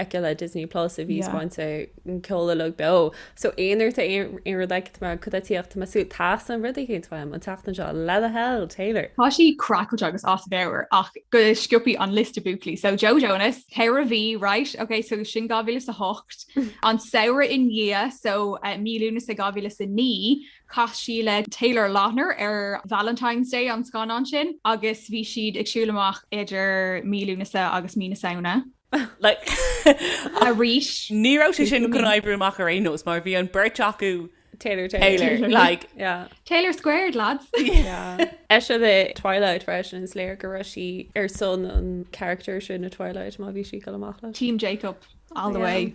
aici le Disney Plus a bhí ag spáint an ceol uilig beo. So aon uair atá aon rud aici mar cudaíocht tá sú teastaíonn rud éicint uaim an tseachtain seo what the hell Taylor. Tá sí craiceailte agus as a meabhair ach go sciobtha an liosta buachaillí. So Joe Jonas, ceithre mhí, right? Ok so sin 2008. An samhradh i ndiaidh so mí Lúnasa 2009 chas sí le Taylor Lautner ar Valentine's Day an scannán sin agus bhí siad ag siúl amach idir mí Lúnasa agus mí na Samhna. arís. Ní raibh sé sin chun oibriú amach ar aon nós mar bhí an beirt acu Taylor Taylor. Taylor squared lads. Is é le Twilight freisin is léir go raibh sí ar son an character sin i Twilight má bhí sí ag dul amach le. Team Jacob all the way.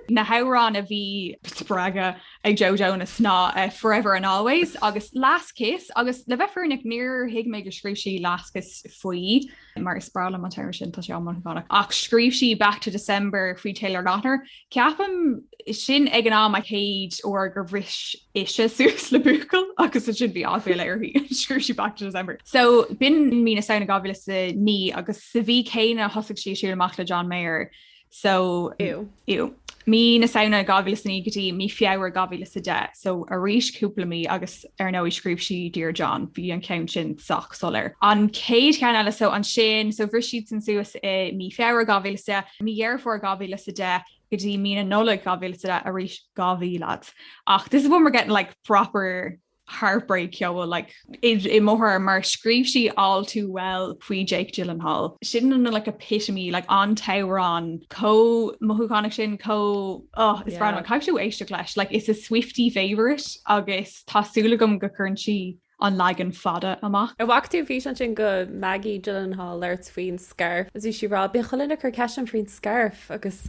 Na hamhráin a bhí spreagtha ag Joe Jonas ná Forever and Always agus Last Kiss agus le bheith fírinneach níor thuig mé go scríobh sí Last Kiss faoi. mar is breá liom an t-amhrán sin, tá sé an-mhothúchánach. Ach scríobh sí Back to December faoi Taylor Lautner. Ceapaim sin ag an am an chéad uair gur bhris ise suas le buachaill agus ansin bhí aiféala uirthi agus scríobh sí Back to December. So b'in mí na Samhna 2009 agus sa mhí céanna thosaigh sí ag siúl amach le John Mayer. so Ew. Mí na Samhna 2009 go dtí mí Feabhra 2010, so arís cúpla mí agus ar ndóigh scríobh sí Dear John, bhí an ceann sin sách soiléir. An chéad cheann eile, so ansin, so bhris siadsan suas i mí Feabhra 2010, mí Dheireadh Fómhair 2010 go dtí mí na Nollag 2010, arís dhá mhí, lads. Ach this is when we're getting like proper. heartbreak ceoil like i mBóthar mar scríobh sí all too well faoi Jake Gyllenhaal. Sin an like epitome like an t-amhrán chomh mothúchánach sin chomh oh is breá liom é. Caithfidh tú éisteacht leis like it's a Swiftie favourite agus tá súil agam go gcuireann sí an leagan fada amach. An bhfaca tú an físeán sin de Maggie Gyllenhaal ag labhairt faoin scairf? Is bhí sí ag rá bíonn chuile dhuine ag cur ceist orm faoin scairf agus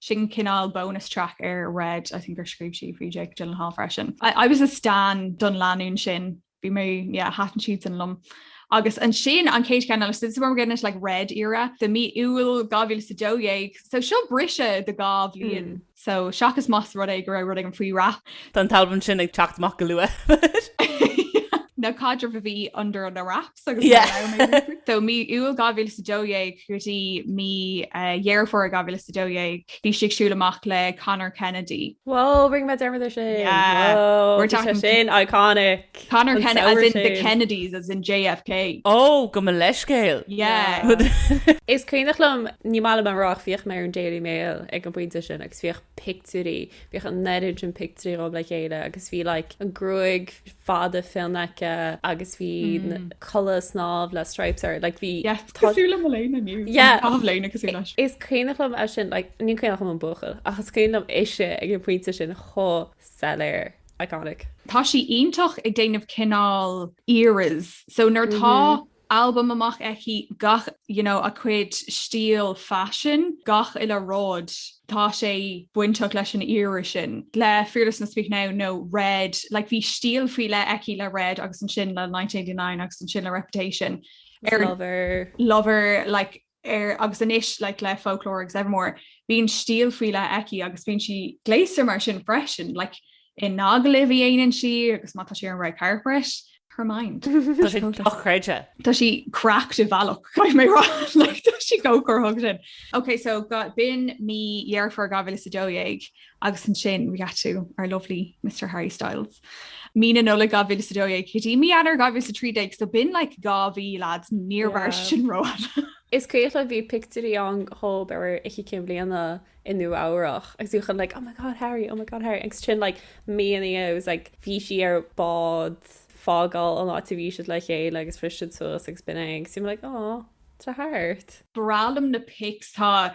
Sin cineál bonus track ar Red, I think ar scríobh sí faoi Jake Gyllenhaal freisin. I was a stan don lánúin sin, bhí mé, yeah, thaitin siadsan liom. Agus ansin an chéad cheann eile, so this is where we're getting into like Red era, so mí Iúil 2012, so seo briseadh de dhá bhliain, so seachas más rud é go raibh rud éigin faoi wrap. Tá an t-albam sin ag teacht amach go luath. Nó caidreamh a bhí under na wraps. So mí Iúil 2012 go dtí mí Dheireadh Fómhair 2012 bhí sí ag siúl amach le Conor Kennedy. Wow, bring back Dermot O'Shea. Yeah. Wow, We're tá sé talking- sin iconic. Conor Kennedy, as in the Kennedys, as in JFK. Ó, gabh mo leithscéal! Yeah. Is cuimhneach liom, ní maith liom a rá ach bhíodh mé ar an Daily Mail ag an bpointe sin agus bhíodh pictiúirí Bhíodh an oiread sin pictiúirí dhób le chéile agus bhí like an gruaig fada fionn aici agus bhí culaith snámha le stripes air like bhí Yes, cosúil le mo léine inniu. Yeah. Tá mo léine cosúil leis. Is cuimhneach liom é sin like ní cuimhneach liom an buachaill ach is cuimhneach liom ise ag an pointe sin chomh soiléir. Iconic. Tá sí iontach ag déanamh cineál eras so nuair atá albam amach aici, gach you know a cuid stíl faisin, gach uile rud, tá sé bainteach leis an era sin, le Fearless nó Speak Now nó Red, like bhí stíl faoi leith aici le Red agus ansin le Nineteen Eighty Nine agus ansin le Reputation, ar Lover, like. air agus anois like le folklore agus evermore bíonn stíl faoi leith aici agus bíonn sí gléasta mar sin freisin like i n-agallaimh a dhéanann sí agus má tá sí ar an red carpet her mind Tá sé dochreidte. Tá sí cracked ar bhealach caithfidh mé a rá like tá sí go cur thug sin. Ok so ga- b'in mí Dheireadh Fómhair 2012 Agus ansin, we got to our lovely Mister Harry Styles. Mí na Nollag 2012 go dtí mí Eanáir 2013, so b'in like dhá mhí, lads, níor mhar sin rófhada! Is cuimhneach liom bhí pictiúirí ann dhób ar Oíche Chinn Bliana i Nua Eabhrach agus bhí chuile dhuine like oh my god Harry, oh my god Harry agus ansin like mí ina dhiaidh it was like bhí sí ar bád ag fágáil an áit a bhí siad le chéile agus bhris siad suas agus b'in é agus you were like aw tá thart. breá liom na pics tá.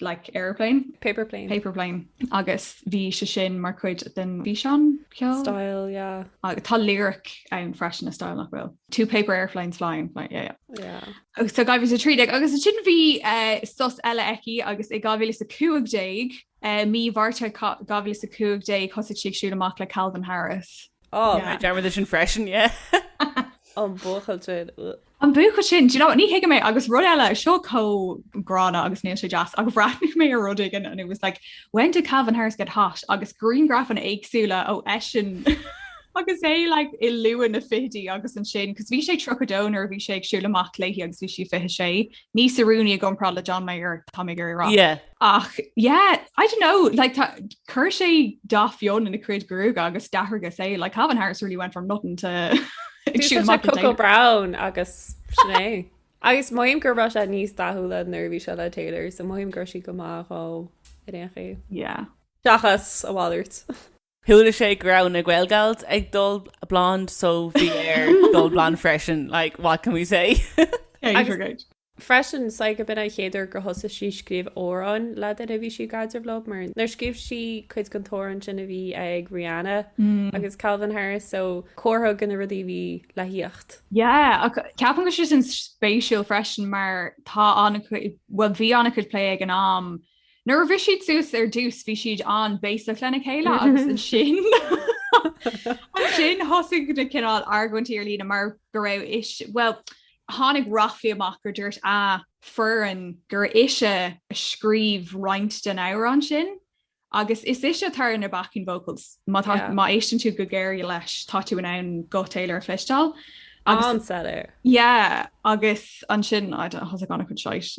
like aeroplane. Paper plane. Paper plane agus bhí sé sin mar chuid den bhfíseán ceoil. Style, yeah. Agus tá lyric ann freisin i Style nach bhfuil. Two paper airplanes flying, flying, yeah, yeah. Yeah. Agus tá 2013 agus ansin bhí eh, sos eile aici agus i 2015 eh, mí Mhárta ca- 2015 thosaigh sí ag siúl amach le Calvin Harris. Oh, Yeah. Dearmad sin freisin, yeah. an buachaill sin. Ugh. An buachaill sin, do you know, ní thuigfidh mé, agus rud eile, seo chomh gránna agus níl sé deas, ach bhreathnaigh mé ar rud éigin and it was like, when did Calvin Harris get hot? agus griangrafanna éagsúla dhó eisean agus é like i luath na fichidí agus ansin, cos bhí sé 32 nuair a bhí sé ag siúl amach léi agus bhí sí 26, níos oiriúnaí i gcomparáid le John Mayer, tá mé ag iarraidh a rá. Yeah. Ach yeah, I don't know, like tá, cuir sé dath fionn ina cuid gruaige agus d'athraigh sé, like Calvin Harris really went from nothing to ag siúl amach an Cocoa Brown agus sin é. Agus mothaím go raibh sé níos dathúla nuair a bhí sé le Taylor, so mothaím go raibh sí go maith dhó in aon chaoi. Yeah. Seachas a mhalairt. Chuala sé go raibh na Gaelgals ag dul blonde so bhí air dul blonde freisin like what can we say? Freisin, I'd say go b'in an chéad uair gur thosaigh sí scríobh amhráin le duine a bhí sí i gcaidreamh leo mar nuair scríobh sí cuid den t-amhrán sin a bhí ag Rihanna agus Calvin Harris so comhartha do na rudaí a bhí le thíocht. Yeah ach ceapaim go bhfuil sé sin spéisiúil freisin mar tá an- bhuel bhí an-chuid plé ag an am Nuair a bhris siad suas ar dtús bhí siad an-bhéasach lena chéile agus ansin ansin thosaigh na cineál argóintí ar líne mar go raibh is bhuel tháinig ráflaí amach gur dúirt a foireann gur ise a scríobh roinnt den amhrán sin agus is ise atá ar na backing vocals. Má tá Yeah. má éisteann tú go géar leis tá tú in ann guth Taylor a chloisteáil agus An-said air. yeah agus ansin I don't- thosaigh ann chun shite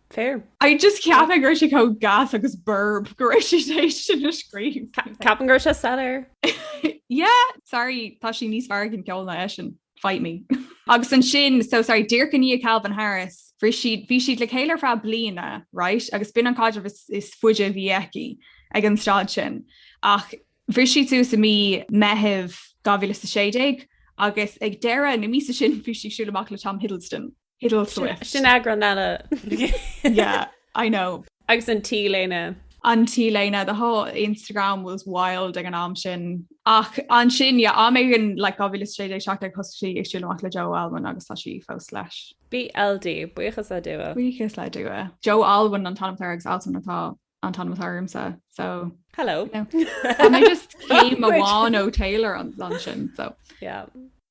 Fair. I just ceapaim go raibh sé chomh gas agus borb gur ise sin a scríobh. Ceapaim go raibh sé soiléir. Yeah, sorry, tá sí níos fearr ag an gceol ná eisean, fight me. Agus ansin, so sorry, díreach i ndiaidh Calvin Harris, bhris siad, bhí siad le chéile ar feadh bliana, right, agus b'in an caidreamh is is faide a bhí aici ag an stad sin, ach bhris siad suas i mí Meithimh 2016 agus ag deireadh na míosa sin bhí sí ag siúl amach le Tom Hiddleston. Hiddleswift. Sin eagrán eile. Yeah, I know. Agus an T-léine. An T-léine, the whole Instagram was wild ag an am sin. Ach ansin, yeah, am éigin, like, 2016, 2017 thosaigh sí ag siúl amach le Joe Alwyn agus tá sí fós leis. BLD, buíochas le Dua. Buíochas le Dua. Joe Alwyn an t-ainm atá air agus Alswyn atá an t-ainm atá ormsa, so. Hello. Tá mé just céim amháin ó Taylor ansin, so. Yeah.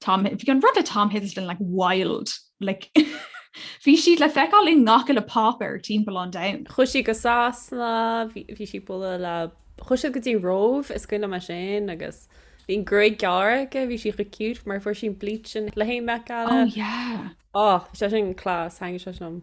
Tom, bhí an rud le Tom Hiddleston like wild like bhí siad le feiceáil i ngach uile páipéar timpeall an domhain. Chuaigh sí go Sasana, bhí sí ag bualadh le, chuaigh siad go dtí an Róimh is cuimhin liom é sin agus bhí an gruaig gearr aici, bhí sí go cute mar fuair sí an bleach le haghaidh an Met Gala. Oh yeah. Oh, sé sin class, thank you sé sin.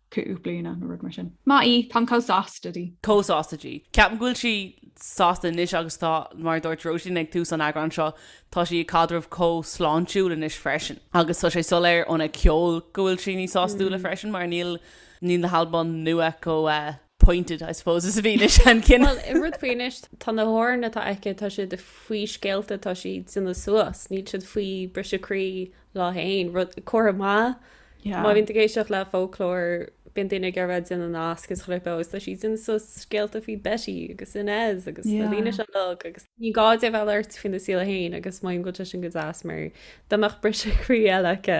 cúig bliana nó rud mar sin. Maith í, táim chomh sásta di. chomh sásta di. Ceapaim go bhfuil sí sásta anois agus tá, mar a dúirt Róisín ag tús an eagráin seo, tá sí i gcaidreamh chomh sláintiúil anois freisin. Agus tá sé soiléir óna ceol go bhfuil sí níos sástúla freisin mar níl na halbaim nua chomh. pointed I suppose is a bhí na seanchinn. Bhuel, an rud faoi anois, tá na hamhráin atá aici, tá siad faoi scéalta atá sí ag déanamh suas, níl siad faoi briseadh croí léi fhéin, rud, comhartha maith, má bhíonn tú ag éisteacht le folklore, bíonn daoine ag iarraidh a bheith ag déanamh nasc is ghlioc leo agus tá sí ag déanamh suas scéalta faoi Betty agus Inez agus na daoine seo uilig agus ní gá di a bheith ag labhairt faoina saol fhéin agus mothaím go bhfuil sé sin go deas mar dá mbeadh briseadh croí eile aici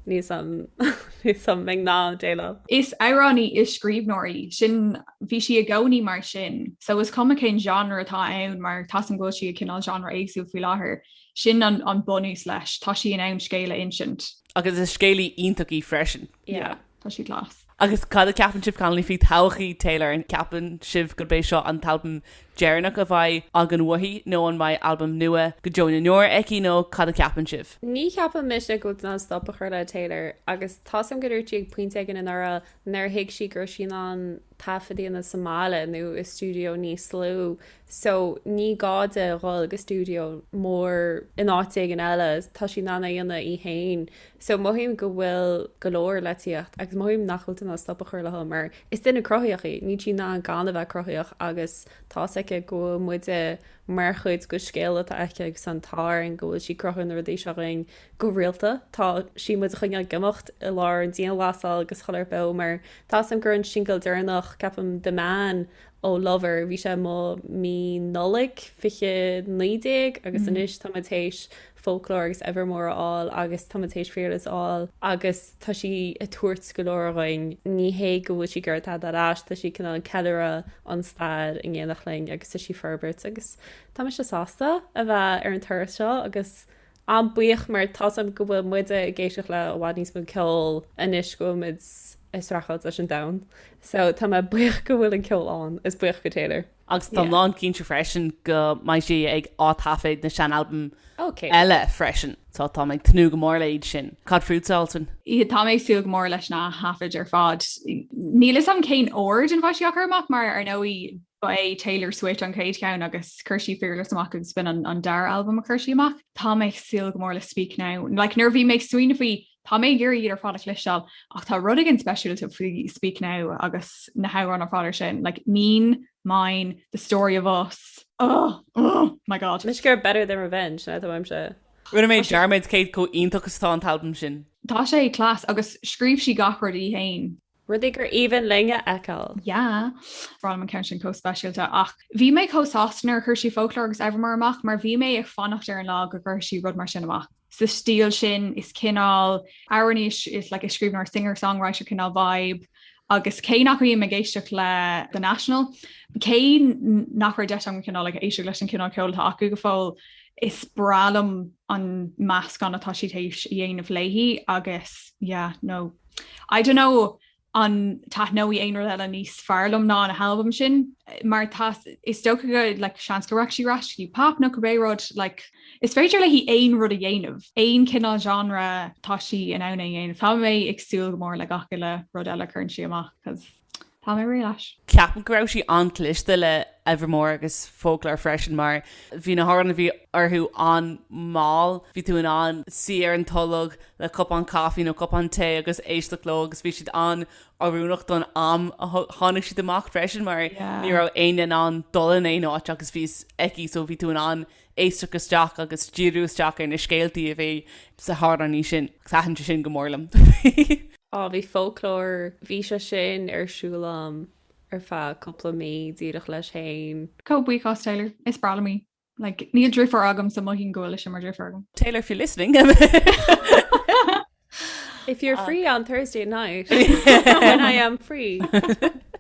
Níl a fhios agam, níl a fhios agam an mbeidh mé in ann déileáil. Is amhránaí, is scríbhneoir í, sin, bhí sí i gcónaí mar sin, so is cuma cén genre atá ann mar tá a fhios agam go bhfuil sí ag cineál genre éagsúil faoi láthair, sin an bunús leis, tá sí in ann scéal a insint. Agus is scéalaí iontach í freisin. Yeah. Tá sí class. Agus cad a cheapann sibh, Conallaigh, faoi thodhchaí Taylor? An gceapann sibh gurb é seo an t-albam deireanach a bheidh againn uaithi, nó an mbeidh albam nua go deo na ndeor aici, nó cad a cheapann sibh? Ní cheapann mise go bhfuil tú in ann stop a chur le Taylor, agus tá's agam go ndúirt sí ag pointe éigin anuraidh nár thuig sí go raibh sí in ann taifead a dhéanamh sa mbaile nó i stiúideo níos lú, so ní gá di dhul go stiúideo mór in áit éigin eile, tá sí in ann é a dhéanamh í fhéin. So mothaím go bhfuil go leor le tíocht agus mothaím nach bhfuil tú in ann stop a chur léi mar is duine cruthaíoch í, níl sí in ann gan a bheith cruthaíoch agus tá's aici go bhfuil muide mar chuid dhon scéal atá aici agus tá an t-ádh orainn go bhfuil sí ag cruthú na rudaí seo dhúinn go rialta, tá sí muid a choinneáil ag imeacht i lár an dianghlasáil agus chuile rud beo mar tá's agam gur an singil deireanach ceapaim The Man ó Lover bhí sé amuigh mí Nollaig fiche naoi déag agus anois tá muid théis Folklore agus Evermore a fháil agus tá muid théis Fearless a fháil agus tá sí ag tabhairt go leor dhúinn. Ní hé go bhfuil sí ag gabháil tada ar ais, tá sí cineál ag ceiliúradh an stair in éineacht linn agus tá sí ag forbairt agus tá mise sásta a bheith ar an turas seo agus an-bhuíoch mar tá's agam go bhfuil muide ag éisteacht le i bhfad níos mó ceol anois go bhfuil muid ag streachailt leis an domhan so tá mé buíoch go bhfuil an ceol ann is buíoch go Taylor. Agus tá mé lán cinnte freisin go mbeidh sí ag ataifead na seanalbaim eile freisin. So tá mé ag tnúth go mór le iad sin. Cad fútsa Zoltan? Yeah tá mé ag súil go mór leis na hataifid ar fad. Níl 'fhios a'm cén ord ina bheidh sí á gcur amach mar ar ndóigh ba é Taylor Swift an chéad cheann agus chuir sí Fearless amach agus b'in an dara albam a chuir sí amach. Tá mé ag súil go mór le Speak Now. Like nuair a bhí mé ag smaoineamh faoi Tá mé ag iarraidh iad ar fad a chloisteáil ach tá rud éigin speisialta faoi Speak Now agus na hamhráin ar fad ar sin, like Mean, Mine, The Story of Us, oh, oh my god. Let's go Better Than Revenge sin é mo cheannsa. Rinne mé dearmad cé chomh iontach is atá an t-albam sin. Tá sé class agus scríobh sí gach rud í fhéin. Rudaí gur aoibhinn linn a fheiceáil! yeah! Braithim an ceann sin chomh speisialta ach bhí mé chomh sásta nuair a chuir sí Folklore agus Evermore amach mar bhí mé ag fanacht ar an lá go gcuirfeadh sí rud mar sin amach sa stíl sin is cineál amhránaí is like is scríbhneoir singer songwriter cineál vibe agus cé nach mbím ag éisteacht le The National cé nach raibh deis agam cineál like éisteacht leis an cineál ceoil atá acu go fóill is breá liom an meascán atá siad théis a dhéanamh léi agus yeah no I don't know an taithneoidh aon rud eile níos fearr liom ná an halbam sin mar tá is dócha go like, seans go rachaidh sí ar ais go dtí pop nó cibé rud like, is féidir léi aon rud a dhéanamh, aon cineál genre tá sí in ann é a dhéanamh. Tá mé ag súil go mór le gach uile rud eile a chuireann sí amach 'cause. Tá mé réidh leis. Ceapaim go raibh sí an-chliste le Evermore agus Folklore freisin mar bhí na hamhráin a bhí orthu an-mhall, bhí tú in ann suí ar an tolg le cupán caifí nó cupán tae agus éisteacht leo agus bhí siad an-oiriúnach don am a tháinig siad amach freisin mar ní raibh éinne in ann dul in aon áit agus bhí a fhios aici so bhí tú in ann éisteacht isteach agus díriú isteach ar na scéaltaí a bhí sna hamhráin sin. Thaitin sé sin go mór liom. Á, bhí folklore, bhí sé sin ar siúl a'm ar feadh cúpla mí, díreach leis fhéin. Go buíochas Taylor, is breá liom í. Like, níl driofúr agam so mothaím go bhfuil sise mar driofúr agam. Taylor, if you're listening. If you're free on Thursday night when I am free.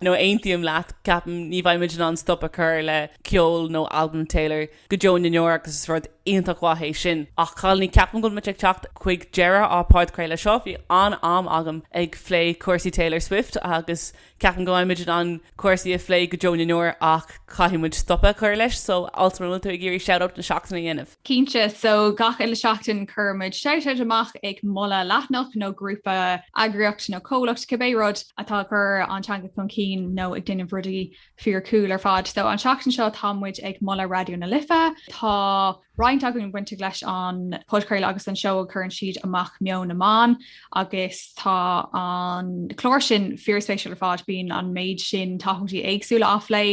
No, aontaím leat ceapaim ní bheimid in ann stop a chur le ceol nó albam Taylor go deo na ndeor agus is rud iontach mhaith é sin. Ach a chailíní ceapaim go bhfuil muid ag teacht chuig deireadh ár bpodchraoladh seo. Bhí an-am agam ag plé cúrsaí Taylor Swift agus Ceapaim go mbeidh muid in ann cúrsaí a phlé go deo na ndeor ach caithfidh muid stop a chur leis, so Altan, an bhfuil tú ag iarraidh shout-out na seachtaine a dhéanamh. Cinnte, so gach uile seachtain cuireann muid shout-out amach ag moladh leathnach nó grúpa, eagraíocht nó comhlacht, cibé rud, atá ag cur an teanga chun cinn nó ag déanamh rudaí fíor cool ar fad. So an seachtain seo tá muid ag moladh Raidió na Life, tá. roinnt againn bainteach leis an podchraoladh agus an seó a chuireann siad amach Meon na mBan agus tá an clár sin fíorspéisiúil ar fad, bíonn an méid sin topaicí éagsúla á phlé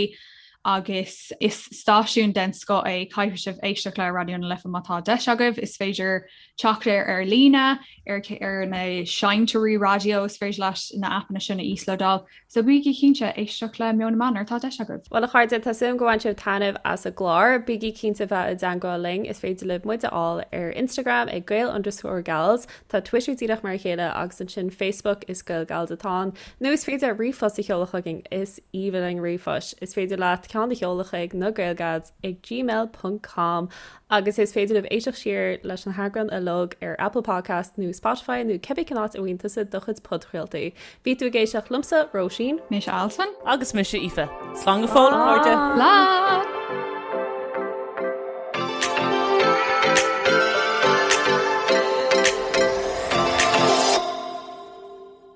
agus is stáisiún den scoth é, caithfidh sibh éisteacht le Raidió na Life má tá deis agaibh. Is féidir teacht air ar líne, ar na seinnteoirí raidió, is féidir leat na aipeanna sin a íoslódáil. So bígí cinnte éisteacht le Meon na mBan má tá deis agaibh! Bhuel a chairde, tá súil a'm gur bhain sibh taitneamh as an gclár. Bígí cinnte bheith i dteangmháil linn, is féidir libh muid a fháil ar Instagram ag gael underscore gals, tá Twitter díreach mar a chéile agus ansin Facebook is GaelGals atá ann, nó is féidir ríomhphost a sheoladh chugainn, is aoibhinn linn ríomhphost, is féidir leat ceann a sheoladh chuig na GaelGals. ag gmail ponc com agus is féidir libh éisteacht siar leis na heagráin uilig ar Apple Podcasts nó Spotify nó cibé cén áit a bhfaigheann tusa do chuid podchraoltaí. Bhí tú ag éisteacht liomsa, Róisín. Mise Altan. Agus mise Aoife. Slán go fóill, a chairde! Slán!